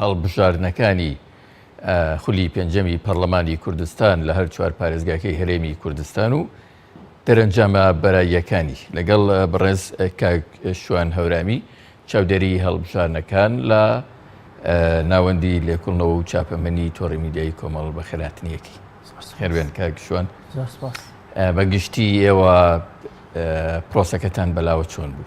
هەڵبژاردنەکانی خولی پێنجەمی پەرلەمانی کوردستان لە هەر چوار پارێزگاکەی هەرێمی کوردستان و دەرەنجامە بەراییەکانی لەگەڵ بەڕێز کاک شوان هەورامی چاودێری هەڵبژاردنەکان لە ناوەندی لێکوڵنەوە و چاپەمەنی تۆڕی میدیایی کۆمەڵ بە خێراتنیەتی هەروێن کاک شوان بەگشتی ئێوە پرۆسەکەتان بەلاوە چۆن بوو؟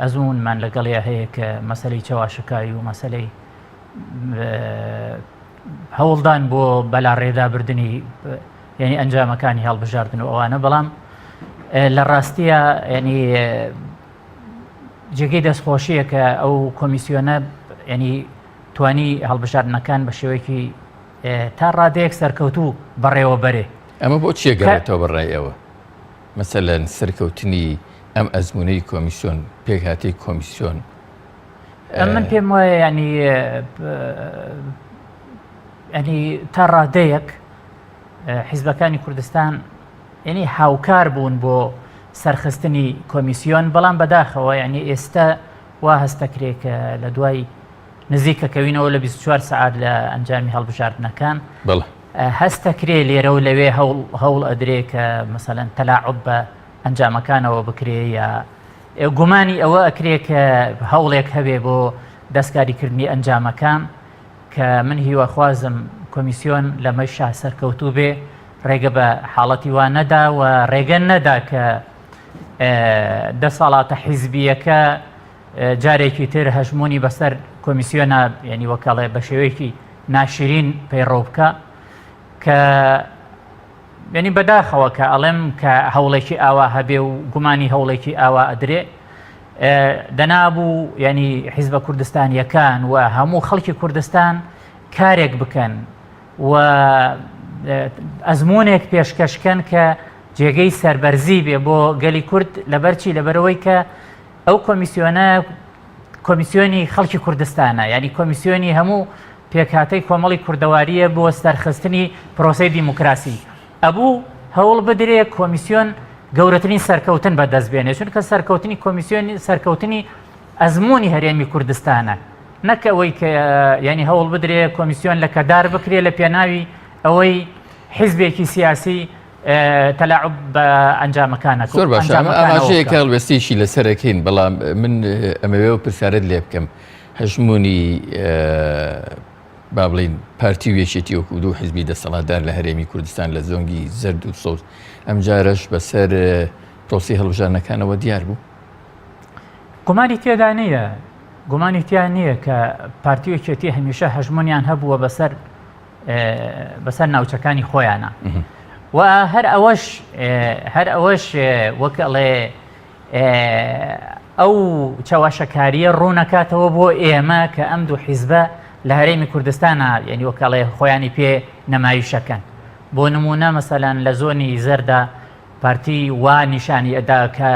ئەزموونمان لەگەڵیا هەیە کە مەسەلەی چەواشەکاوی و مەسەلەی هەوڵدان بۆ بەلاڕێدابردنی یعنی ئەنجامەکانی هەڵبژاردن و ئەوانە بەڵام لە ڕاستیە ینی جێگەی دەستخۆشیە کە ئەو کۆمیسیۆنە ینی توانی هەڵبژاردنەکان بە شێوەیەکی تا ڕادەیەک سەرکەوتوو بەڕێوە بەرێ ئەمە بۆ چیەگەێتەوە بەڕێ ئەوە مەسەلەن سەرکەوتنی ئەم ئەزموونەی کۆمیسیۆن، پێکهاتەی کۆمیسیۆن. من پێم وایە یانی ئەنی تا ڕادەیەک حیزبەکانی کوردستان یعنی هاوکار بوون بۆ سەرخستنی کۆمیسیۆن بەڵام بەداخەوە یعنی ئێستا وا هەستەکرێکە لە دوای نزیکەکەوینەوە لە 24 سعات لە ئەنجامی هەڵبژاردنەکان هەستدەکرێ لێرە و لەوێ هەوڵ ئەدرێ کە مەسەلەن تەلاعوب بە ئەنجامەکانەوە بکرێ یا گومانی ئەوە ئەکرێ کە هەوڵێک هەبێ بۆ دەستکاریکردنی ئەنجامەکان کە من هیواخوازم کۆمیسیۆن لەمەی شا سەرکەوتوو بێ ڕێگە بە حاڵەتی وا نەدا و ڕێگە نەدا کە دەسەڵاتە حیزبیەکە جارێکی تر هەژموونی بەسەر کۆمیسیۆنە ینی وەکەڵێ بە شێوەیەکی ناشرین پەیڕەو بکە کە ینی بەداخەوە کە ئەڵێم کە هەوڵێکی ئاوا هەبێ و گومانی هەوڵێکی ئاوا ئەدرێ دەنابوو ینی حیزبە کوردستانیەکان و هەموو خەڵکی کوردستان کارێک بکەن و ئەزمونێک پێشکەشکەن کە جێگەی سربەرزی بێ بۆ گەلی کورد لەبەرچی لەبەرەوەی کە ئەو کۆمیسیۆنە کۆمیسیۆنی خەڵکی کوردستانە یعنی کۆمیسیۆنی هەموو پێکهاتەی کۆمەڵی کوردەواریە بۆ سەرخستنی پرۆسی دیموکراسی ئەبوو هەوڵ بدرێ کۆمیسیۆن گەورەترین سەرکەوتن بەدەست بێنێ چونکە سەرکەوتنی کۆمیسیۆنی سەرکەوتنی ئەزمموی هەرێمی کوردستانە نەک ئەوەی کە ینی هەوڵ بدرێ کۆمیسیۆن لە کەدار بکرێ لە پێناوی ئەوەی حیزبێکی سیاسی تەلاعوب بە ئەنجامەکانە زۆر باش ئاماژەیە کە هەڵوێستێکی لەسەرەکەین بەڵام من ئەمەوێەوە پرسیارت لێ بکەم هەژمونی با بڵین پارتی و یەکێتی وەکو دوو حزبی دەسەڵاتدار لە هەرێمی کوردستان لە زۆنگی زرد و سەوز ئەم جارەش بەسەر پرۆسی هەڵبژانەکانەوە دیار بوو گومانی تێدا نییە گومانی تیان نییە کە پارتی و یەکێتی هەمیشە هەژمونیان هەبووە بەسەر بەسەر ناوچەکانی خۆیانە و هەر ئەوەش هەر ئەوەش وەک ئەڵێ ئەو چاواشەکاریە ڕوونەکاتەوە بۆ ئێمە کە ئەم دوو حیزبە لە هەرێمی کوردستانە یعنی وەکەڵێ خۆیانی پێ نەمایشەکەن بۆ نمونە مەسەلەن لە زۆنی زەردا پارتی وا نیشانی ئەدا کە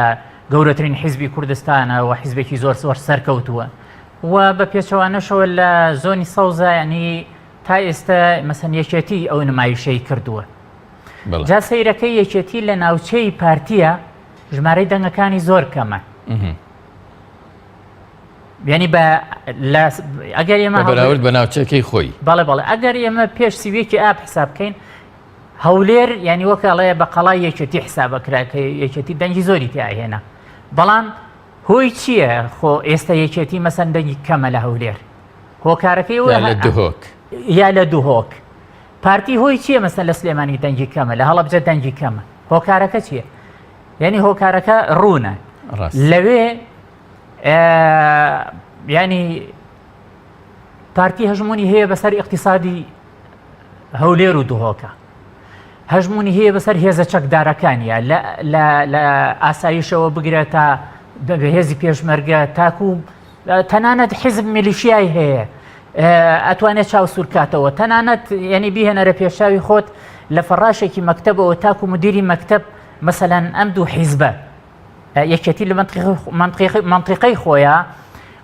گەورەترین حیزبی کوردستانە و حیزبێکی زۆر زۆر سەرکەوتووە و بە پێچەوانەشەوە لە زۆنی سەوزایانی تا ئێستا مەسەن یەکێتی ئەو نمایشەی کردووە جا سەیرەکە یەکێتی لە ناوچەی پارتیە ژمارەی دەنگەکانی زۆر کەمە ینی بە ئەگەر ئێمە بەراورد بە ناوچەکەی خۆی بەڵێ بەڵێ ئەگەر ئێمە پێش سیوێکی ئاپ حساب بکەین هەولێر ینی وەکڵەیە بە قەڵای یەکێتی حسابەکراکە یەکێتی دەنگی زۆری تیاهێنا بەڵام هۆی چییە خۆ ئێستا یەکێتی مەسەن دەنگی کەمە لە هەولێر هۆکارەکەی لە دهۆک یا لە دهۆک پارتی هۆی چییە مەسەن لە سلێمانی دەنگی کەمە لە هەڵبجە دەنگی کەمە هۆکارەکە چییە یعنی هۆکارەکە ڕوونە لەوێ ینی پارتی هەژمونی هەیە بەسەر اقتصادی هەولێر و دهۆکە هەژموونی هەیە بەسەر هێزە چەکدارەکانیە لە ئاسایشەوە بگرە تا هێزی پێشمەرگە تاکو تەنانەت حیزب میلیشیای هەیە ئەتوانێت چاو سوورکاتەوە تەنانەت یعنی بیهێنەرە پێشاوی خۆت لە فەڕاشێکی مەکتتەبەوە تاکو مدیری مەکتب مەسەەن ئەم دوو حیزبە یەکێتی لە مەنتیقەی خۆیە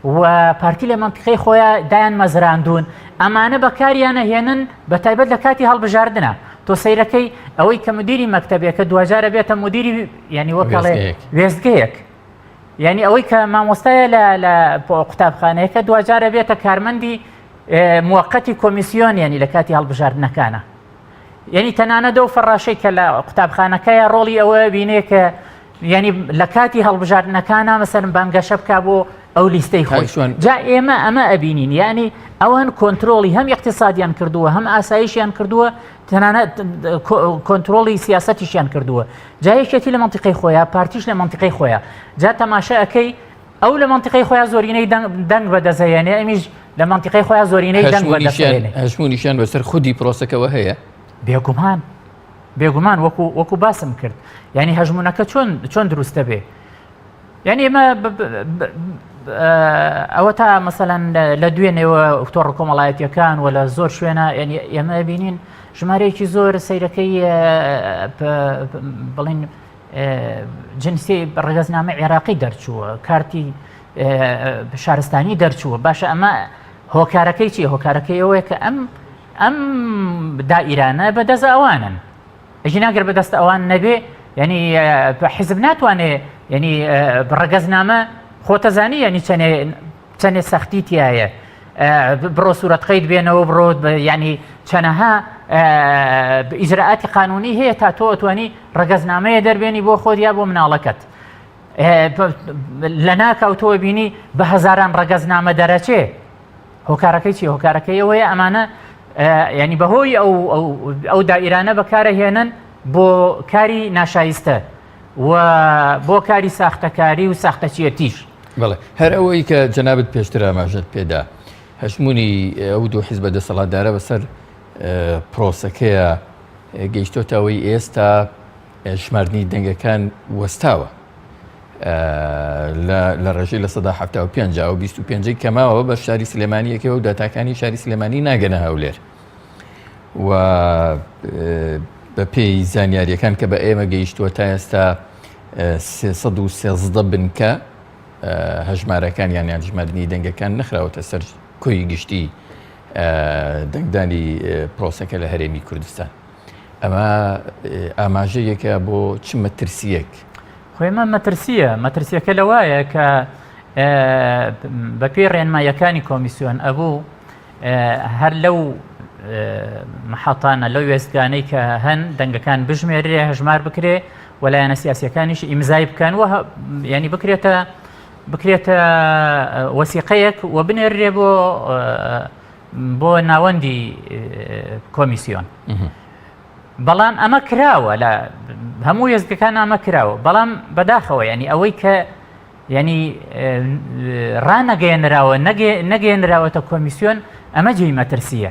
و پارتی لە مەنتیقەی خۆیە دایان مەزراندون ئەمانە بەکاریانە هێنن بە تایبەت لە کاتی هەڵبژاردنە تۆ سیرەکەی ئەوەی کە مدیری مەکتتەبێکە دوجارە بێتە مدیری ینی وەکڵێ وێستگەیەک یعنی ئەوەی کە مامۆستایە لە قوتابخانەیەەکە دوجارە بێتە کارمەندی موقتی کۆمیسیۆن ینی لە کاتی هەڵبژاردنەکانە یعنی تەنانەت ئەو فەڕاشەی کە لە قوتابخانەکەیە ڕۆڵی ئەوەیە بینێ کە یعنی لە کاتی هەڵبژاردنەکانە مەسەرم بانگەشە بک بۆ ئەو لیستەی خۆی جا ئێمە ئەمە ئەبینین یعنی ئەوان کۆنتترۆلی هەم اقتصادیان کردووە هەم ئاسایشیان کردووە تەنانەت کۆنتترۆلی سیاستیشیان کردووە جایەکێتی لە منتیقی خۆیان پارتیش لە منتیقی خۆیان جا تەماشاەکەی ئەو لە مەنتیقەی خۆیان زۆرینەی دەنگ بەدەزەێنێ ئەمیش لە مەنتیقەی خۆیان زۆرینەی دەنگ هەشمونیشیان بەسەر خودی پرۆسەکەەوە هەیە بێگومان بێگومان وەکو وەکو باسم کرد ینی هەژمونونەکە چۆن چۆن دروستە بێ یعنی ئمە ئەوە تا مەسەەن لە دوێنێەوە ئۆکتۆڕ کۆمەڵایەتەکان و لە زۆر شوێنە ینی ئێمە بینین ژمارەیەکی زۆر سیرەکەی بڵین جنسی ڕەگەزنامە عێراقی دەرچووە کارتی شارستانی دەرچووە باشە ئەمە هۆکارەکەی چی هۆکارەکەی ئەوەیە کە ئەم ئەم دا ئیرانە بە دەست ئەوانن ئەژی ناگەر بە دەست ئەوان نەبێ ینی حزب ناتوانێ ینی ڕەگەزنامە خۆتەزانی ینی چەنێ چەنێ سەختی تایە بڕۆ سوورەت قەید بێنەوە بڕۆ ینی چەنەها ئیجرراعاتی قانونی هەیە تا تۆ ئەتوانی ڕگەزنامەیە دەربێنی بۆ خۆت یا بۆ مناڵەکەت لە ناکاوتەوە بینی بە هەزاران ڕگەزنامە دەرەچێ هۆکارەکەی چی هۆکارەکەی ئەوەیە ئەمانە ینی بەهۆی ئەو ئەو دائیرانە بەکارە هێنن بۆ کاری ناشایستە و بۆ کاری ساختەکاری و ساختەچێتیش بڵێ هەر ئەوەی کە جەنابەت پێشتر ئاماژەت پێدا هەژمونی ئەو دوو حیزبە دەسەڵاتدارە بەسەر پرۆسەکەیە گەیشتۆتەوەی ئێستا ژماردنی دەنگەکان وەستاوە لە ڕێژی لە سەدا ه پێ و 25 کەماوە بە شاری سلێمانیەکەوە و داتاکانی شاری سلێمانی ناگەنە هەولێر و بەپێی زانیاریەکان کە بە ئێمە گەیشتووە تا ئێستا 313 بنکە هەژمارەکان یان یان ژماردننی دەنگەکان نخراوەتە سەر کۆی گشتی دەنگدانی پرۆسەکە لە هەرێمی کوردستان ئەمە ئاماژەیەکە بۆ چ مەترسیەک خۆێمە مەترسیە مەترسیەکە لە وایە کە بەپێی ڕێنمایەکانی کۆمیسیۆن ئەبوو هەر لەو محەتانە لەو وێستگانەی کە هەن دەنگەکان بژمێرێ هەژمار بکرێ و لایەنە سیاسەکانیش ئیمزای بکەن و ینی بکرێتە بکرێتە وەسیقەیەک و بنێرێ بۆ بۆ ناوەندی کۆمیسیۆن. بەڵام ئەمە کراوە لە هەموو وێزگەکان ئەمە کراوە بەڵام بەداخەوە ینی ئەوەی کە یانی ڕانەگەێنراوە نەگەێنراوەتە کۆمیسیۆن ئەمە جێی مەترسیە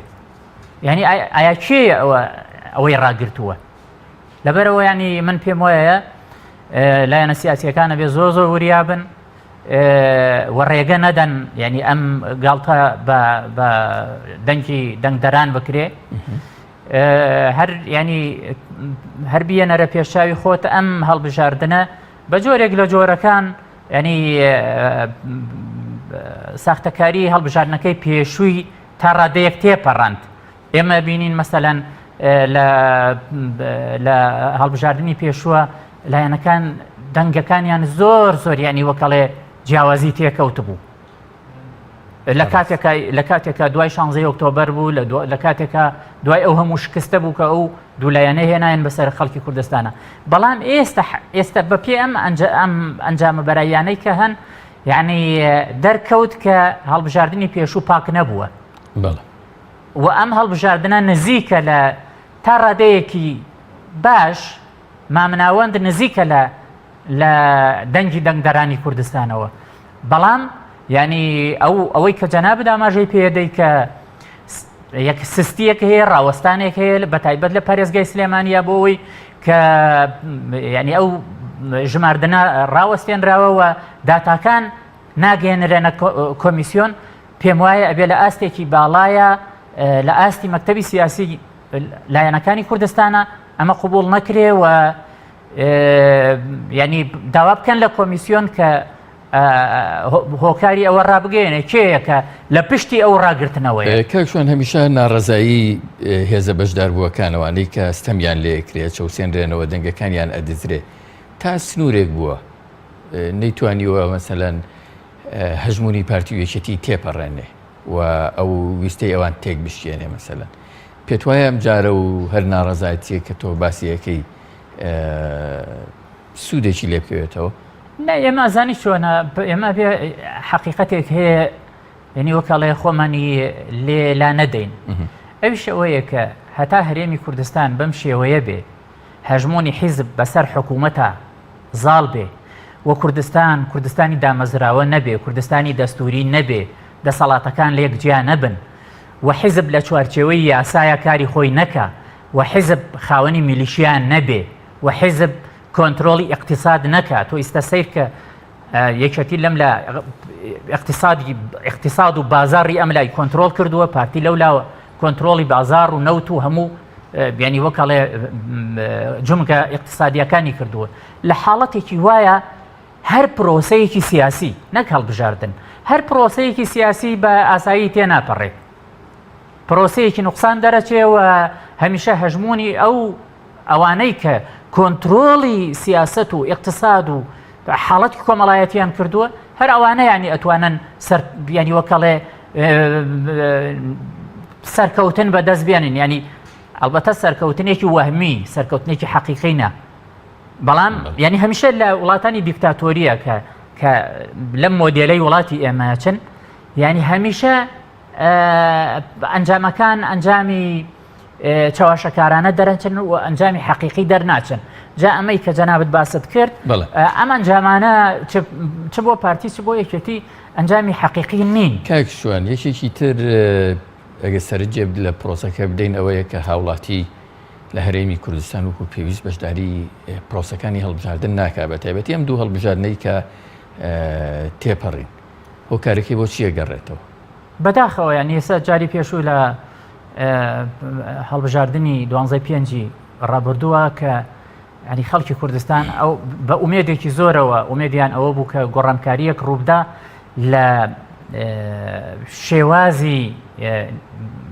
یعنی ئایا کێ ئەوە ئەوەی ڕاگرتووە لەبەرەوە ینی من پێم وایە لایەنە سیاسەکانە بێ زۆ زۆ وریابن و ڕێگە نەدەن ینی ئەم گاڵتە بە دەنگی دەنگدەران بکرێ هەر ینی هەر بیەنەرە پێشاوی خۆت ئەم هەڵبژاردنە بە جۆرێک لە جۆرەکان ینی ساختەکاری هەڵبژاردنەکەی پێشووی تا ڕادەیەک تێپەڕند ئێمە بینین مەسەەن لە هەڵبژاردننی پێشووە لایەنەکان دەنگەکانیان زۆر زۆریانی وەکەڵێ جیاوازی تێکەوت بوو لە کاتێکا لە کاتێکا دوای شانزەی ئۆکتۆبەر بوو لە دو- لە کاتێکا دوای ئەو هەموو شکستە بوو کە ئەو دوولایەنە هێنایان بەسەر خەڵکی کوردستانە بەڵام ئێستا ح- ئێستا بە پێ ئەم ئەنج- ئەم ئەنجامە بەراییانەی کە هەن یعنی دەرکەوت کە هەڵبژاردنی پێشوو پاک نەبووە بەڵێ و ئەم هەڵبژاردنە نزیکە لە تا ڕادەیەکی باش مامناوەند نزیکە لە لە دەنگی دەنگدەرانی کوردستانەوە بەڵام ینی ئەو ئەوەی کە جەناب داماژەی پێدەی کە یەک سستیەک هەیە ڕاوەستانێک هەیە بە تایبەت لە پارێزگای سلێمانیا بۆ ئەوی کە ینی ئەو ژماردنە ڕاوەستێنراوەوە داتاکان ناگەێنرێنە کۆمیسیۆن پێم وایە ئەبێ لە ئاستێکی باڵایە لە ئاستی مەکتتەبی سیاسی لایەنەکانی کوردستانە ئەمە قبوڵ نەکرێ و ینی داوا بکەن لە کۆمیسیۆن کە هۆکاری ئەوە ڕابگەێنێ کێیەکە لە پشتی ئەو ڕاگرتنەوەی کاکشوان هەمیشە ناڕزایی هێزە بەشدار بووەکانەوانەی کە ستەمیان لێکرێت چەوسێنرێنەوە دەنگەکانیان ئەدزرێ تا سنوورێک بووە نەیتوانیوە مەسەەن هەژمونی پارتی وێچەتی تێپەڕێنێ و ئەو ویستەی ئەوان تێک بشکێنێ مەسەلەن پێت وایە ئەم جارە و هەر ناڕەزایەتیە کە تۆ باسیەکەی سوودێکی لێ بکەوێتەوە نە ئێمە ئازانی چۆنە ئێمە بێ حەقیقەتێک هەیە یعنی وەکەڵێ خۆمانی لێ لا نەدەین ئەوش ئەوەیە کە هەتا هەرێمی کوردستان بەم شێوەیە بێ هەژمونی حیزب بەسەر حکوومەتە زاڵ بێ و کوردستان کوردستانی دامەزراوە نەبێ، کوردستانی دەستووری نەبێ، دەسەڵاتەکان لێک جیا نەبن و حیزب لە چوارچێوەی یاسایا کاری خۆی نەکا و حیزب خاوەنی میلیشیا نەبێ و حیزب کۆنترۆڵی ئیقتیساد نەکا، تۆ ئیستە سەیر کە یەکێتی لەم لا ئیقتیسادی ئیقتیساد و بازاڕی ئەم لای کۆنترۆڵ کردووە، پارتی لەو لاوە کۆنترۆڵی بازاڕ و نەوت و هەموو بیانی وەک ئەڵێ جمگە ئیقتصادیەکانی کردووە لە حاڵەتێکی وایە هەر پرۆسەیەکی سیاسی نەک هەڵبژاردن هەر پرۆسەیەکی سیاسی بە ئاسایی تێ ناپەڕێت پرۆسەیەکی نقصان دەرەچێەوە هەمیشە هەژمونی ئەو ئەوانەی کە کۆنتترۆڵی سیاست و اقتصاد و حاڵەتی کۆمەڵایەتیان کردووە هەر ئەوانە ینی ئەتوانن سەر بیانی وەکەڵێ سەرکەوتن بەدەست بێنین ینی ئەڵبەتە سەرکەوتنێکی وەهمی سەرکەوتنێکی حەقیقینە بەڵام ینی هەمیشە لە وڵاتانی دیکتاتۆریە کە کە لەم مۆدیلەی وڵاتی ئێمەچن ینی هەمیشە ئەنجامەکان ئەنجامی چەواشەکارانە دەرەنچن و ئەنجامی حەقیقی دەرناچن جا ئەمەی کە جەنابەت باست کرد ئەمان جامانە چ بۆ پارتی چ بۆ یەکێتی ئەنجامی حەقیقی نین کاک شوان یەکێکی تر ئەگە سەرجێ لە پرۆسەکە بدەین ئەوەیە کە هاوڵاتی لە هەرێمی کوردستان وکو پێویست بەشداری پرۆسەکانی هەڵبژاردن ناکا بە تایبەتی ئەم دوو هەڵبژاردنەی کە تێپەڕین هۆکارەکەی بۆ چیە گەڕێتەوە بەداخەوەیان یێستا جاری پێشوو لە هەڵبژاردنی دوانزای پێنجی ڕابردووە کە ئەنی خەڵکی کوردستان ئەو بە ئومێدێکی زۆرەوە ئومێدیان ئەوە بوو کە گۆڕانکاریەک ڕووبدا لە شێوازی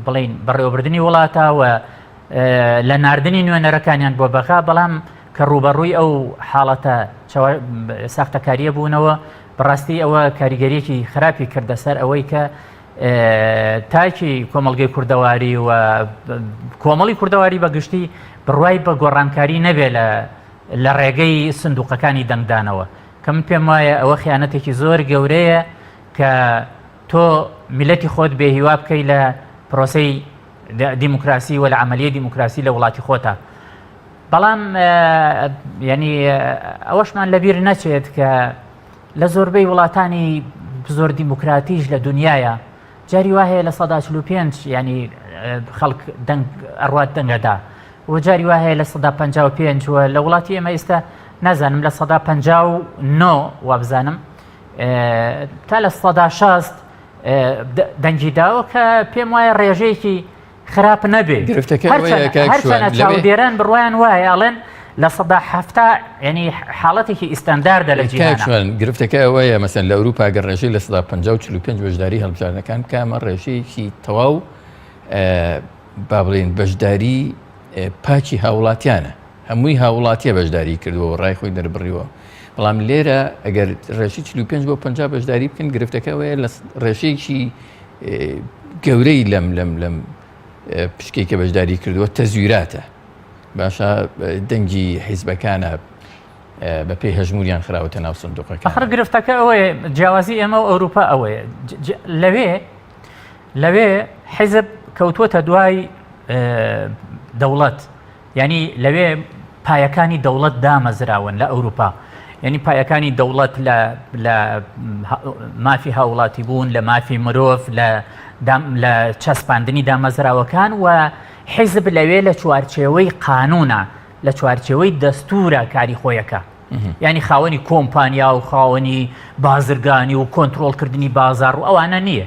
بڵین بەڕێوەبردننی وڵاتەوە لە نردنی نوێنەرەکانیان بۆ بەغا بەڵام کە ڕوبەڕووی ئەو حاڵەتە ساختەکاریە بوونەوە بەڕاستی ئەوە کاریگەریەکی خراپی کردە سەر ئەوەی کە تاکی کۆمەڵگەی کوردەواری و کۆمەڵی کوردەواری بە گشتی بڕوای بە گۆڕانکاری نەبێ لە لە ڕێگەی سندوقەکانی دەنگدانەوە کە من پێم وایە ئەوە خیانەتێکی زۆر گەورەیە کە تۆ میلەتی خۆت بێ هیوا بکەی لە پرۆسی دیموکراسی و لە عملیە دیموکراسی لە وڵاتی خۆتە بەڵام ینی ئەوەشمان لەبیر نەچێت کە لە زۆربەی وڵاتانی زۆر دیموکراتیش لە دنیاە جاری وهەیە لە سەدا چلو پێنج ینی خەڵک دەنگ ئەڕات دەنگەدا و جاری وهەیە لە سەدا پ پێنج و لە وڵاتی ئێمە ئێستا نازانم لە سەدا پ نۆ وابزانم تا لە سەدا شاست دەنگی داوە کە پێم وایە ڕێژەیەکی خراپ نەبێ هەرچەنە چاودێران بڕوایان وایە ئەڵێن لە سەدا هەفتا ینی حاڵەتێکی ئیسستانداردە لە جیهان گرفتەکە ئەوەیە مەسەن لە ئەوروپا گە ڕێژەی لە سەدا 55 بەشداری هەڵبژاردنەکان کامە ڕێژەیەکی تەواو با بڵێن بەشداری پاچی هاوڵاتیانە هەمووی هاوڵاتیە بەشداری کردووە ڕای خۆی دەربڕیوە بەڵام لێرە ئەگەر ڕێژی 45 بۆ 50 بەشداری بکەن گرفتەکە وەیە لە ڕێژەیەکی گەورەی لەم لەم لەم پشکەی کە بەشداری کردووە تەزویراتە باشە دەنگی حیزبەکانە بە پێی هەژموریان خراوەتە ناو سندوقەکە خڕ گرفتەکە ئەوەیە جیاوازی ئێمە و ئەوروپا ئەوەیە لەوێ لەوێ حیزب کەوتووەتە دوای دەوڵەت یانی لەوێ پایەکانی دەوڵەت دامەزراون لە ئەوروپا یعنی پایەکانی دەوڵەت لە لە مافی هاوڵاتی بوون لە مافی مرۆڤ لە لە چەسپاندنی دامەزراوەکان و حیزب لەوێ لە چوارچێوەی قانونە لە چوارچێوەی دەستورە کاری خۆیەکە ینی خاوەنی کۆمپانیا و خاوەنی بازرگانی و کۆنتترۆلکردنی بازار و ئەوانە نییە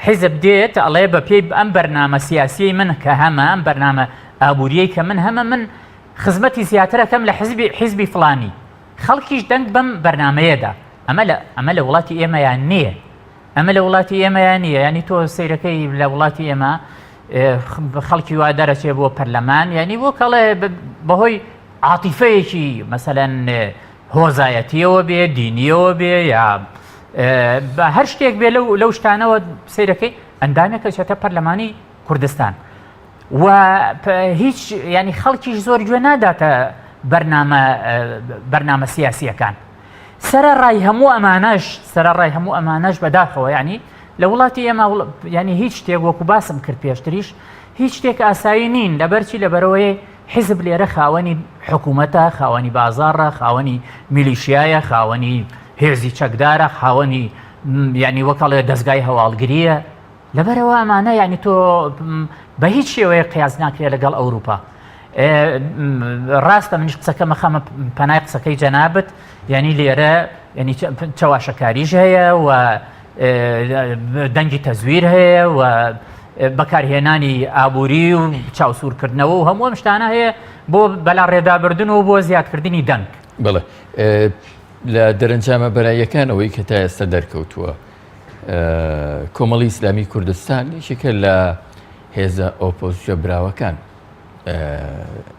حیزب دێت ئەڵێ بە پێی ئەم بەرنامە سیاسیەی من کە هەمە ئەم بەرنامە ئابووریەی کە من هەمە من خزمەتی زیاترەکەم لە حزبی حیزبی فلانی خەڵکیش دەنگ بەم بەرنمەیەدا ئەمە لە ئەمە لە وڵاتی ئێمەیان نییە ئەمە لە وڵاتی ئێمەیان نییە ینی تۆ سیرەکەی لە وڵاتی ئێمە خەڵکی وا دەرەچێ بۆ پەرلەمان یعنی بۆ کەڵێ بەهۆی عاتیفەیەکی مەسەەن هۆزایەتیەوە بێ دینیەوە بێ یا بە هەر شتێک بێ لەو لەو شتانەوە سیرەکەی ئەندامێکە چێتە پەرلەمانی کوردستان و هیچ ینی خەڵکیش زۆر گوێ ناداتە بەرنامە بەرنامە سیاسیەکان سرە ڕای هەموو ئەمانەش سرە ڕای هەموو ئەمانەش بەداخەوە ینی لە وڵاتی ئێمە ینی هیچ شتێک وەکو باسم کرد پێشتریش هیچ شتێک ئاسایی نین لەبەرچی لەبەرەوەی حیزب لێرە خاوەنی حکوومەتە، خاوەنی بازاڕە، خاوەنی میلیشیایە، خاوەنی هێزی چەکدارە، خاوەنی یعنی وەکەڵێ دەستگای هەواڵگریە لەبەرەوە ئەمانە یعنی تۆ بە هیچ شێوەیە قیاز ناکرێت لەگەڵ ئەوروپا. ڕاستە منیش قسەکەمە خەمە پەنای قسەکەی جەنابەت یانی لێرە ینی چەواشەکاریش هەیە و دەنگی تەزویر هەیە و بەکارهێنانی ئابووری و چاوسورکردنەوە و هەموو ئەم شتانە هەیە بۆ بەلا ڕێدابردن و بۆ زیادکردنی دەنگ بڵێ لە دەرەنجامە بەراییەکانەوەی کە تا ئێستا دەرکەوتووە کۆمەڵی ئیسلامی کوردستان یەکێکە لە هێزە ئۆپۆزیۆ براوەکان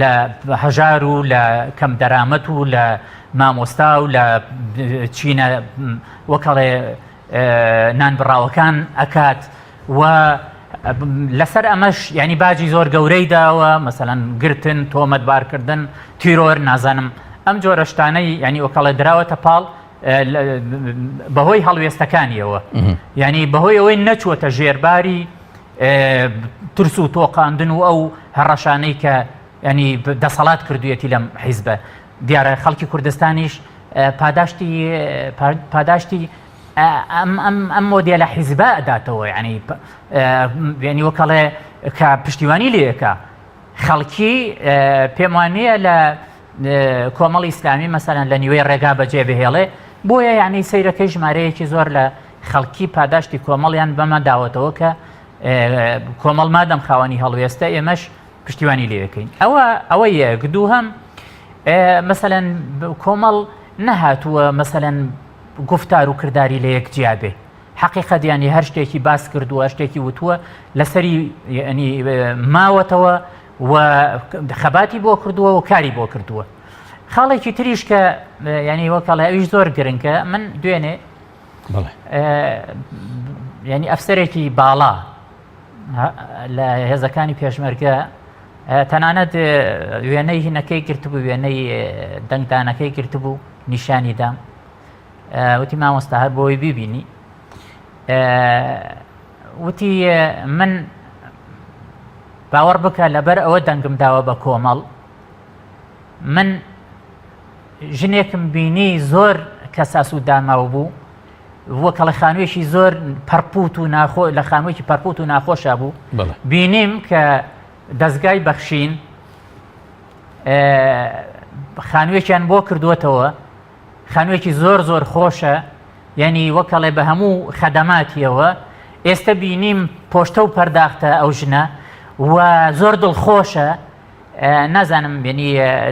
لە هەژار و لە کەم دەرامەت و لە مامۆستا و لە چینە وەکەڵێ نانبڕاوەکان ئەکات و لەسەر ئەمەش ینی باجی زۆر گەورەی داوە مەسەەن گرتن تۆمەتبارکردن تیرۆر نازانم ئەم جۆرەشتانەی ینی وەکەڵێ دراوەتە پاڵ بەهۆی هەڵوێستەکانیەوە ینی بەهۆی ئەوەی نەچووەتە ژێرباری ترس و تۆقاندن و ئەو هەڕەشانەی کە ینی دەسەڵات کردویەتی لەم حیزبە دیارە خەڵکی کوردستانیش پاداشتی پاداشتی ئەم مۆدیە لە حیزبە ئەداتەوە ینی ینی وەکەڵێ کە پشتیوانی لەکە خەڵکی پێم وانە لە کۆمەڵی ئیسلامی مەسەرەن لە نیوەی ڕێگا بەجێ بهێڵێ بۆیە یعنی سیرەکەی ژمارەیەکی زۆر لە خەڵکی پاداشتی کۆمەڵیان بەمە داوەتەوە کە کۆمەڵ مادەم خاوەنی هەڵوێستە ئێمەش پشتیوانی لێەکەین ئەوە ئەوە یەک دوو هەم مەسەەن کۆمەڵ نەهاتووە مەسەەن گفتار و کردداری لە یەک جیابێ حقیقت ینی هەر شتێکی باس کردووە شتێکی وتووە لەسەری ینی ماوەتەوە و خەباتی بۆ کردووە و کاری بۆ کردووە خاڵێکی تریش کە ینی وەکەڵێ ئەویش زۆر گرنگە من دوێنێ یعنی ئەفسەرێکی باڵا لە هێزەکانی پێشمەرگە تەنانەت وێنەی هینەکەی گرتبوو وێنەی دەنگدانەکەی گرتبوو نیشانی دام وتی مامۆستا هەر بۆی بیبینی وتی من باوەڕ بکە لەبەر ئەوە دەنگم داوە بە کۆمەڵ من ژنێکم بینی زۆر کەساس و داماو بوو و کەڵە خانوێکی زۆر پەرپوت و ناخۆ لە خانوێکی پەرپوت و ناخۆشە بوو بینیم کە دەستگای بەخشین خانوێکیان بۆ کردووەتەوە خانوێکی زۆر زۆر خۆشە یعنی وەکەڵێ بە هەموو خەدەماتیەوە ئێستا بینیم پۆشتە و پەرداختە ئەو ژنە و زۆر دڵخۆشە نازانم بینی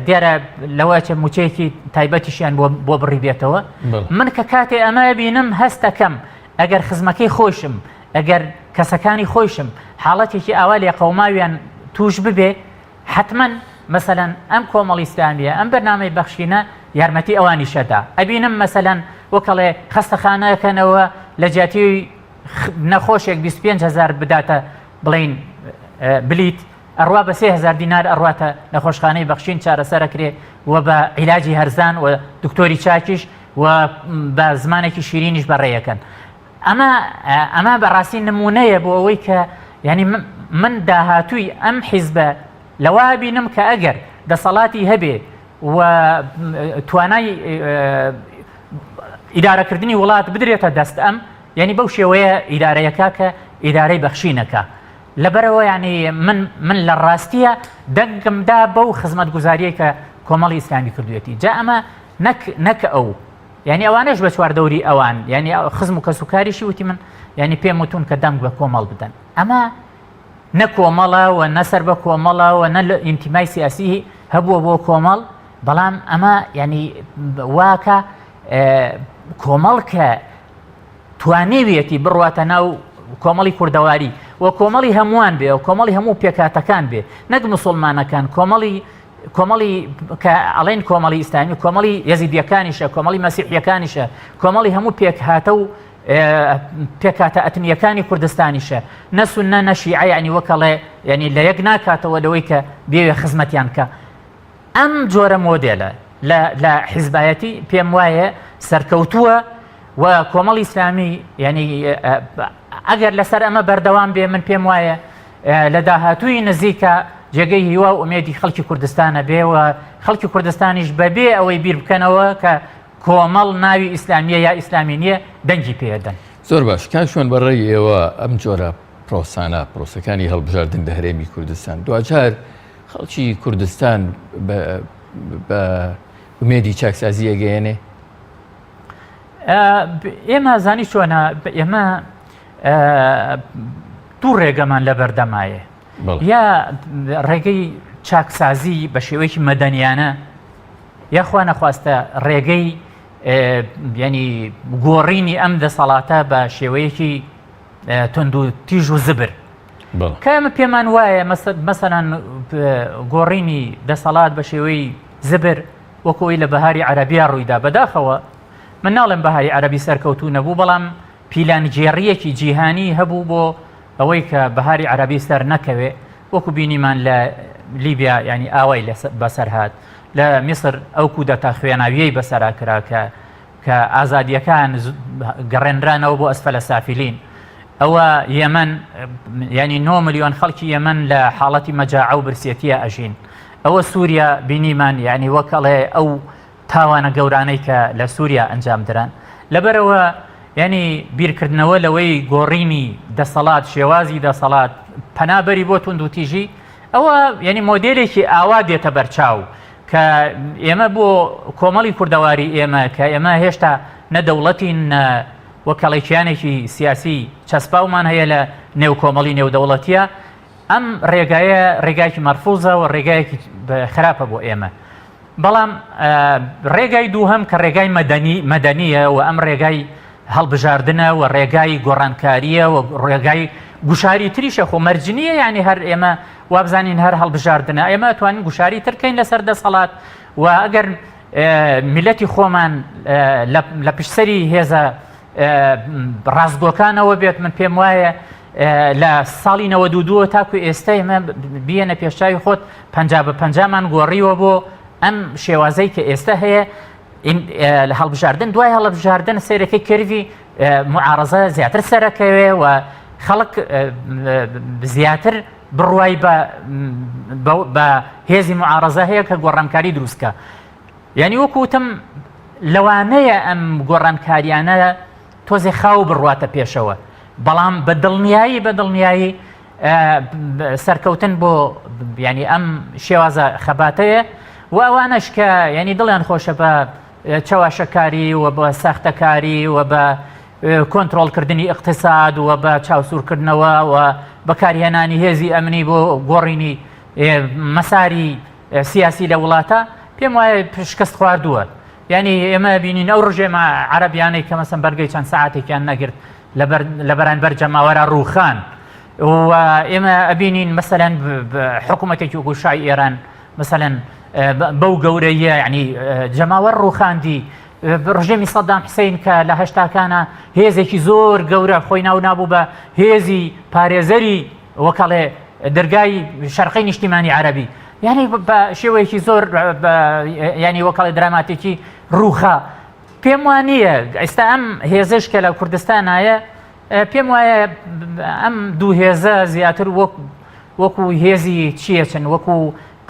دیارە لەوە چە موچەیەکی تایبەتیشیان بۆ بڕی بێتەوە من کە کاتێ ئەمە بینم هەستەکەم ئەگەر خزمەکەی خۆشم ئەگەر کەسەکانی خۆشم حاڵەتێکی ئاوا لێ قەوماویان توش ببێ حتمما مەسەەن ئەم کۆمەڵی ئسلامیە ئەم بەرنامەی بەخشینە یارمەتی ئەوانی شەدا ئەبینم مەسەەن وەکەڵێ خەستەخانەکەنەوە لە جیاتی نەخۆشێک 25هزار بداتە بڵین بلیت ئەڕوا بە سێ هەزار دینار ئەڕواتە نەخۆشخانەی بەخشین چارەسەر ئەکرێ و بە عیلاجی هەرزان و دکتۆری چاکیش و بە زمانێکی شیرینیش بەڕێ ئەکەن ئەمە ئەمە بەڕاستی نمونەیە بۆ ئەوەی کە یعنی من داهاتووی ئەم حیزبە لەوا بینم کە ئەگەر دەسەڵاتی هەبێ و توانای ئیدارەکردنی وڵات بدرێتە دەست ئەم یعنی بەو شێوەیە ئیدارەیەکە کە ئیدارەی بەخشینەکە لەبەرئەوە یانی من من لە ڕاستیە دەنگم دا بەو خزمەتگوزاریەی کە کۆمەڵی ئیسلامی کردوێتی جا ئەمە نەک نەک ئەو یعنی ئەوانش بە چوار دەوری ئەوان یعنی خزم و کەس و کاریشی وتی من یعنی پێم وتون کە دەنگ بە کۆمەڵ بدەن ئەمە نە کۆمەڵە و نەسەر بە کۆمەڵە و نە لە ئینتیمای سیاسی هەبووە بۆ کۆمەڵ بەڵام ئەمە یعنی واکە کۆمەڵ کە توانیویەتی بڕواتە ناو کۆمەڵی کوردەواری و کۆمەڵی هەمووان بێ و کۆمەڵی هەموو پێکاتەکان بێ نەک مسلمانەکان کۆمەڵی کۆمەڵی کە ئەڵین کۆمەڵی ئیسلامی کۆمەڵی یەزیدیەکانیشە کۆمەڵی مەسیحیەکانیشە کۆمەڵی هەموو پێکهاتە و پێکاتە ئەتنیەکانی کوردستانیشە نەسون نە نەشیعە ینی وەکەڵێ ینی لە یەک ناکاتەوە لەوەی کە بێوێ خزمەتیان کە ئەم جۆرە مۆدێلە لە لە حیزبایەتی پێم وایە سەرکەوتووە و کۆمەڵی ئیسلامی یعنی ئەگەر لەسەر ئەمە بەردەوام بێ من پێم وایە لە داهاتووی نزیکە جێگەی هیوا و ئومێدی خەڵکی کوردستانە بێ و خەڵکی کوردستانیش بەبێ ئەوەی بیر بکەنەوە کە کۆمەڵ ناوی ئیسلامیە یا ئیسلامی نییە دەنگی پێدەن زۆر باش کاشوان بەڕێی ئێوە ئەم جۆرە پرۆسانە پرۆسەکانی هەڵبژاردن لە هەرێمی کوردستان دوجار خەڵکی کوردستان بە ئومێدی چاکسازی ئەگەیەنێ؟ ئێمە زانی چۆنە ئێمە دوو ڕێگەمان لە بەردەمایە یا ڕێگەی چاکسازی بە شێوەیەکی مەدەنیانە یاخوا نەخواستە ڕێگەی ینی گۆڕینی ئەم دەسەڵاتە بە شێوەیەکی تونند و تیژ و زبر کە ئێمە پێمان وایە مەسەلەن گۆڕینی دەسەڵات بە شێوەی زبر وەکو ئەوی لە بەهاری عەرەبیا ڕوویدا بەداخەوە من ناڵێم بەهاری عەرەبی سەرکەوتوو نەبوو بەڵام پیلانگێڕییەکی جیهانی هەبوو بۆ ئەوەی کە بەهاری عەرەبی سەر نەکەوێ وەکو بینیمان لە لیبیا ینی ئاوای بەسەر هاات لە میسر ئەو کودەتا خوێناویەی بەسەرا کرا کە کە ئازادیەکان گەڕێنرانەوە بۆ ئەسفەلە سافلین ئەوە یەمەن ینی 9 ملیۆن خەڵکی یەمەن لە حاڵەتی مەجاعە و برسێتیە ئەژین ئەوە سووریا بینیمان یعنی وەکەڵێ ئەو تاوانە گەورانەی کە لە سووریا ئەنجام دران لەبەرەوە ینی بیرکردنەوە لەوەی گۆڕینی دەسەڵات شێوازی دەسەڵات پەنابەری بۆ توندوتیژی ئەوە ینی مۆدلێکی ئاوا دێتە بەرچاو کە ئێمە بۆ کۆمەڵی کوردەواری ئێمە کە ئێمە هێشتا نە دەوڵەتین نە وەکەڵی کیانێکی سیاسی چەسپاومان هەیە لە نێو کۆمەڵی نێودەوڵەتیە ئەم ڕێگایە ڕێگایکی مەرفوزە و ڕێگایەکی خراپە بۆ ئێمە بەڵام ڕێگای دووهم کە ڕێگای مەدەنی مەدەنیە و ئەم ڕێگای هەڵبژاردنە وە ڕێگای گۆڕانکاریە وە ڕێگای گوشاری تریشە خۆ مەرجنیە یعنی هەر ئێمە وابزانین هەر هەڵبژاردنە ئێمە توانین گوشاری ترکەین لەسەر دەسەڵات و ئەگەر میلەتی خۆمان لە پشسەری هێزە ڕاستگۆکانەوە بێت من پێم وایە لە ساڵی نەوە دووە تاکو ئێستا ئێمە بیەنە پێشچوی خۆت پ بە پەنجامان گۆڕیوە بۆ ئەم شێوازەی کە ئێستا هەیە لە هەڵبژاردن دوای هەڵبژاردن سێرەکەی کردوی معارزە زیاتر سەرەکەوێ و خەڵک زیاتر بڕوای بە هێزی معارزە هەیە کە گۆڕانکاری دروستکە یعنی وەکوتم لەوانەیە ئەم گۆڕانکاریانە تۆزێ خاو بڕواتە پێشەوە بەڵام بە دڵنیایی بە دڵنیایی سەرکەوتن بۆ ینی ئەم شێوازە خەباتەیە و ئەوانەش کە ینی دڵیان خۆشە بە چەواشەکاری و بە ساختەکاری و بە کۆنتترۆلکردنی اقتصاد و بە چاوسورکردنەوە و بەکارهێنانی هێزی ئەمنی بۆ گۆڕینی مەساری سیاسی لە وڵاتە پێم وایە پشکست خواردووە یانی ئێمە ئەبینین ئەو ڕژێمە عەرەبیانەی کە مەسەن بەرگەی چەند سەعاتێکیان نەگرت لە بەرانبەر جەماوەرە ڕووخان و ئێمە ئەبینین مەسەەن حکوومەتێکی وەکو شای ئێران مەسەەن بەو گەورەیە ینی جەماوەر ڕووخاندی ڕژێمی سەدام حسین کە لە هەشتاکانە هێزێکی زۆر گەورە خۆی ناو نابوو بە هێزی پارێزەری وەکەڵێ دەرگای شەرقی نیشتیمانی عربی یعنی بە شێوەیەکی زۆر ینی وەکەڵی دراماتێکی روخە پێم وانە ئێستا ئەم هێزش کە لە کوردستانایە پێم وایە ئەم دوو هێزە زیاتر وەک وەکو هێزی چیە چن وەکو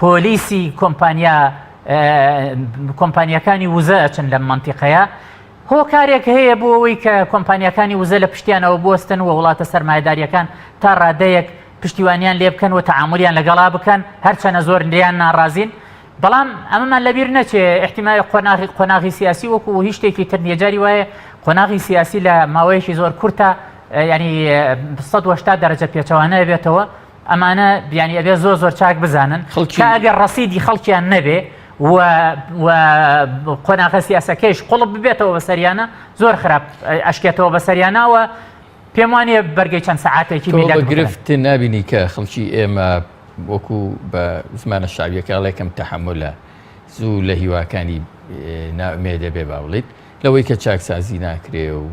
پۆلیسی کۆمپانیا کۆمپانیەکانی وزە ئەچن لەم منتیقەیە هۆکارێک هەیە بۆ ئەوەی کە کۆمپانیاکانی وزە لە پشتیانەوە بوەستن و وڵاتە سەرمایەدارییەکان تا ڕادەیەک پشتیوانیان لێ بکەن و تەعامولیان لەگەڵا بکەن هەرچەنە زۆر لێیان ناڕازین بەڵام ئەمەمان لەبیر نەچێ ئیحتیمای قۆناغی قۆناغی سیاسی وەکو هیچ شتێکی تر نییە جاری وایە قۆناغی سیاسی لە ماوەیەکی زۆر کورتە ینی سەد و هەشتا دەرەجە پێچەوانە بێتەوە ئەمانە بیانی ئەبێ زۆر زۆر چاک بزانن خەڵکی ئەگەر ڕسیدی خەڵکیان نەبێ و قۆناغە سیاسەکەیش قوڵب ببێتەوە بەسەریانە زۆر خراپ ئەشکێتەوە بەسەریانەوە پێم وانە بەرگی چەند سەعاتێکی گرفت نبینی کە خەڵکی ئێمە وەکو بە زمانە شاویەکەڵێکم تەحملە زوو لە هیواکانی نامێ دەبێ باڵیت لەوەی کە چاکسازی ناکرێ و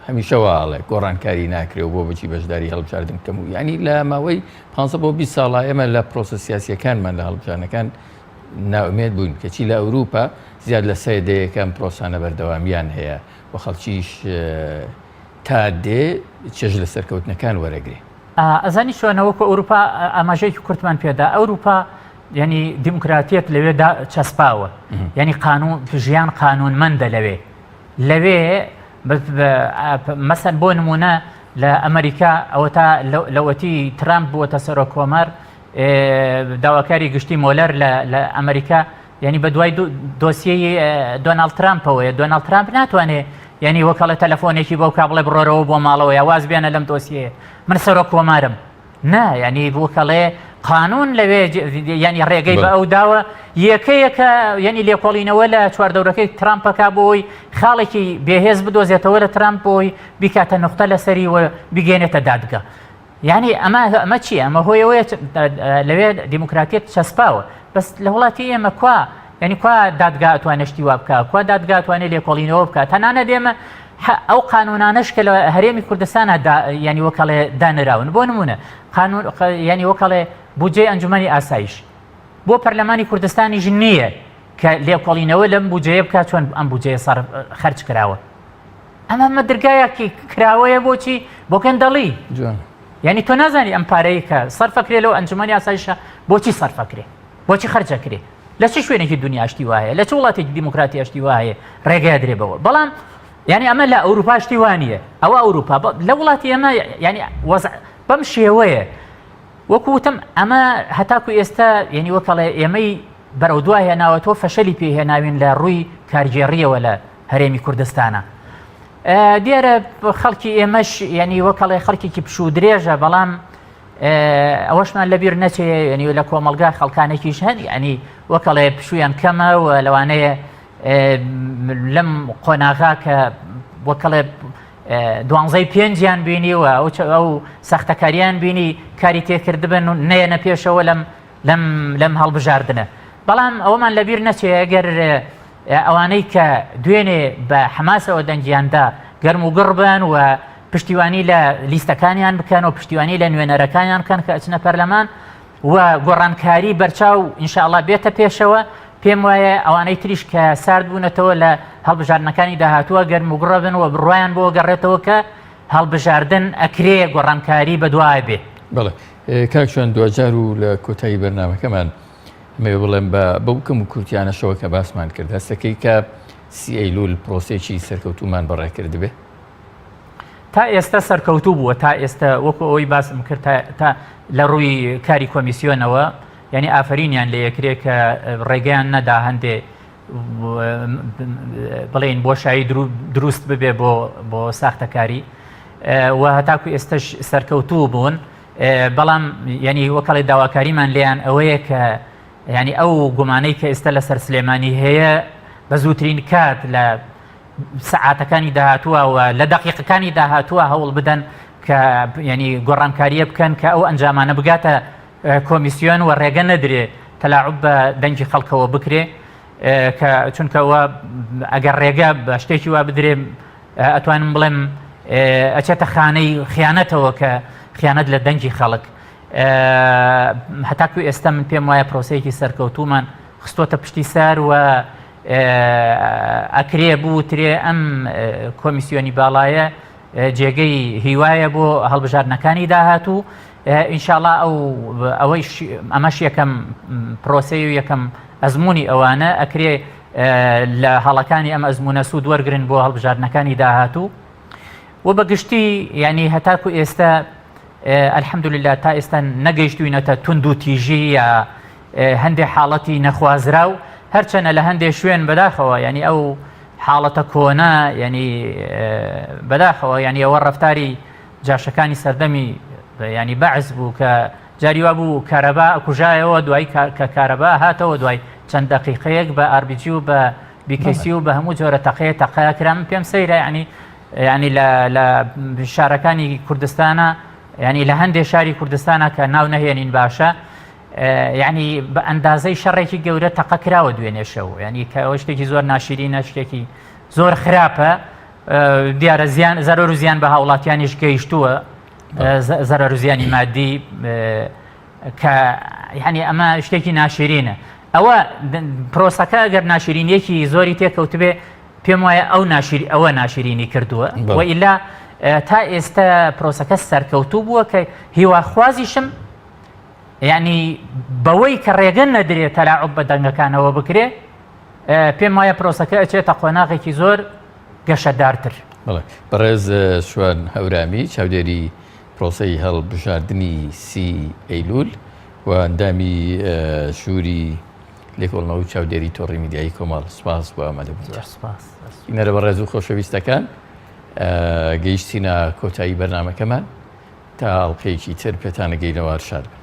هەمیشە وا ئەڵێ گۆڕانکاری ناکرێ و بۆ بچی بەشداری هەڵبژاردن بکەم و یانی لە ماوەی 15 بۆ 20 ساڵا ئێمە لە پرۆسە سیاسیەکانمان لە هەڵبژانەکان ناومێت بووین کەچی لە ئەوروپا زیاد لە سێ دەیەکەم پرۆسانە بەردەوامیان هەیە و خەڵکیش تا دێ چێژ لە سەرکەوتنەکان وەرەگرێ ئەزانی شوێنەوەکو ئەوروپا ئاماژەیەکی کورتمان پێدا ئەوروپا یعنی دیموکراتیەت لەوێ چەسپاوە یعنی قانون ژیان قانونمەندە لەوێ لەوێ مەسەن بۆ نمونە لە ئەمریکا ئەوە تا لەوەتی ترامپ بووەتە سەرۆ کۆمار داواکاری گشتی مۆلەر لە ئەمریکا یعنی بە دوای دۆسیی دۆناالد ترامپەوەیە دۆناالد ترامپ ناتوانێت یعنی وەکەڵە تەلەفۆنێکی بۆ کابڵێ بڕۆرەوە بۆ ماڵەوە یاواز بێنە لەم دۆسیەیە من سەرۆک کۆمارم نا یانی بوکەڵێ قانون لەوێ ینی ڕێگەی بە ئەو داوە یەکەیەکە ینی لێکۆڵینەوە لە چواردەورەکەی ترامپەکە بۆی خاڵێکی بێهێز بدۆزێتەوە لە ترامپ بۆی بیکاتە نقطە لەسەری و بگەێنێتە دادگە یعنی ئەمە ئەمە چی ئەمە هۆیەوەیە لەوێ دیموکراتیت چەسپاوە بەس لە وڵاتی ئێمە کوا یانی کوا دادگا ئەتوانێ شتی وا بکا کوا دادگا ئەتوانێ لێکۆڵینەوە بکا تەنانەت ئێمە ئەو قانونانەش کە لە هەرێمی کوردستانە ینی وەکەڵێ دانراون بۆ نمونە قانون ینی وەکەڵێ بودجەی ئەنجومی ئاسایش بۆ پەرلەمانی کوردستانیش نییە کە لێکۆڵینەوە لەم بودجەیە بکات چۆن ئەم بودجەیە سەر خەرج کراوە ئەمە مە درگایەکی کراوەیە بۆچی بۆ گەندەڵی ینی تۆ نازانی ئەم پارەیە کە سەرفەکرێ لەو ئەنجومی ئاسایشە بۆچی سەرفەکرێ بۆچی خەرج ئەکرێ لە چ شوێنێکی دنیا شتی وایە لە چ وڵاتێکی دیموکراتی شتی وایە ڕێگای درێ بەوە بەڵام یعنی ئەمە لە ئەوروپا شتی وانە ئەوە ئەوروپا لە وڵاتی ئەمە ینی وەز بەم شێوەیە وەکو وتم ئەمە هەتاکو ئێستا یعنی وەکەڵێ ئێمەی بەرەو دوای هێناوە تۆ فەشەلی پێهێناوین لە ڕووی کارگێڕیەوە لە هەرێمی کوردستانە دیارە خەڵکی ئێمەش یعنی وەکەڵێ خەڵکێکی پشوو درێژە بەڵام ئەوەشمان لە بیر نەچێ یعنی لە کۆمەلگا خەڵکانێکیش هەن یعنی وەکەڵێ پشویان کەمە و لەوانەیە لەم قۆناغا کە وەکەڵێ دوانزەی پێنجیان بینی و ئەو ئەو سەختەکاریان بینی کاری تێکردبن و نەیەنە پێشەوە لەم لەم لەم هەڵبژاردنە بەڵام ئەومان لەبیر نەچێ گەر ئەوانەی کە دوێنێ بە حەماسەوە دەنگیان دا گەرم و گڕ بن و پشتیوانی لە لیستەکانیان بکەن و پشتیوانی لە نوێنەرەکانیان بکەن کە ئەچنە پەرلەمان و گۆڕانکاری بەرچاو ئینشاءاللە بێتە پێشەوە پێم وایە ئەوانەی تریش کە سارد بوونەتەوە لە هەڵبژاردنەکانی داهاتووە گەرم و گڕ بن و بڕوایان بۆ گەڕێتەوە کە هەڵبژاردن ئەکرێ گۆڕانکاری بەدوای بێ. بەڵێ کاک ژیان دواجار و لە کۆتایی بەرنامەکەمان. مەوێ بڵێم بە بەو کەم و کورتیانەشەوە کە باسمان کرد هەستەکەی کە سی ئەیلول پرۆسێکی سەرکەوتومان بەڕێ کردبێ تا ئێستا سەرکەوتوو بووە تا ئێستا وەکو ئەوەی باسم کرد تا لە ڕووی کاری کۆمیسیۆنەوە یعنی ئافرینیان لە یەکرێ کە ڕێگەیان نەدا هەندێ بڵێن بۆشایی دروست ببێ بۆ بۆ ساختەکاری و هەتاکو ئێستش سەرکەوتوو بوون بەڵام یەنی وەکەڵی داواکاریمان لێیان ئەوەیە کە ینی ئەو گومانەی کە ئێستا لەسەر سلێمانی هەیە بە زووترین کات لە سعاتەکانی داهاتوە و لە دقیقەکانی داهاتوە هەوڵ بدەن کە ینی گۆڕانکاریە بکەن کە ئەو ئەنجامانە بگاتە کۆمیسیۆن و ڕێگە نەدرێ تەلاعب بە دەنگی خەڵکەوە بکرێ کە چونکەوە ئەگەر ڕێگە بە شتێکی وا بدرێ ئەتوانم بڵێم ئەچێتە خانەی خیانەتەوە کە خیانەت لە دەنگی خەڵک هەتاکو ئێستا من پێم وایە پرۆسەیەکی سەرکەوتومان خستۆتە پشتی سار و ئەکرێ بوترێ ئەم کۆمیسیۆنی باڵایە جێگەی هیوایە بۆ هەڵبژاردنەکانی داهاتوو ئینشاءله ئەو ئەوەی ئەمەش یەکەم پرۆسی و یەکەم ئەزمموی ئەوانە ئەکرێ لە هەڵەکانی ئەم ئەزموونە سوود وەرگرن بۆ هەڵبژاردنەکانی داهاتوو و بە گشتی یعنی هەتاکو ئێستا ئەلحەمدوللا تا ئێستا نەگەیشتوینەتە تونند و تیژی یا هەندێک حاڵەتی نەخوازرا و هەرچەنە لە هەندێک شوێن بەداخەوە ینی ئەو حاڵەتە کۆنا ینی بەداخەوە ینی ئەوە ڕفتاری جاشەکانی سەردەمی ینی بەعز بوو کە جاری وا بوو کارەبا ئەکوژایەوە دوای کە کارەبا هاتەوە دوای چەند دەقیقەیەک بە RBG و بە BKC و بە هەموو جۆرە تەقەیە تەقە کرا من پێم سەیرە یعنی یعنی لە لە شارەکانی کوردستانە یعنی لە هەندێک شاری کوردستانە کە ناو نەهێنین باشە یعنی بە ئەندازەی شەڕێکی گەورە تەقە کراوە دوێنێشەوە یعنی کە ئەوە شتێکی زۆر ناشیرینە شتێکی زۆر خراپە دیارە زیان زەرۆر و زیان بە هاوڵاتیانیش گەیشتووە زەرەر و زیانی مادی کە یعنی ئەمە شتێکی ناشرینە ئەوە پرۆسەکە گەر ناشرینیەکی زۆری تێکەوتبێ پێم وایە ئەو ناشیر ئەوە ناشرینی کردووە وئیلا تا ئێستا پرۆسەکە سەرکەوتوو بووە کە هیواخوازیشم یعنی بەوەی کە ڕێگە نەدرێت تەلاعب بە دەنگەکانەوە بکرێ پێم وایە پرۆسەکە ئەچێتە قۆناغێکی زۆر گەشەدارتر. بەڕێز شوان هەورامی، چاودێری پرۆسەی هەڵبژاردنی سی ئەیلوول و ئەندامی ژووری لێکۆڵنەوە و چاودێری تۆڕی میدیایی کۆمەڵ، سپاس بۆ ئامادەبوونتان. سپاس. بینەرە بەڕێز و خۆشەویستەکان، گەیشتینە کۆتایی بەرنامەکەمان، تا ئەڵقەیەکی تر پێتان ئەگەینەوە، هەر شاد بن.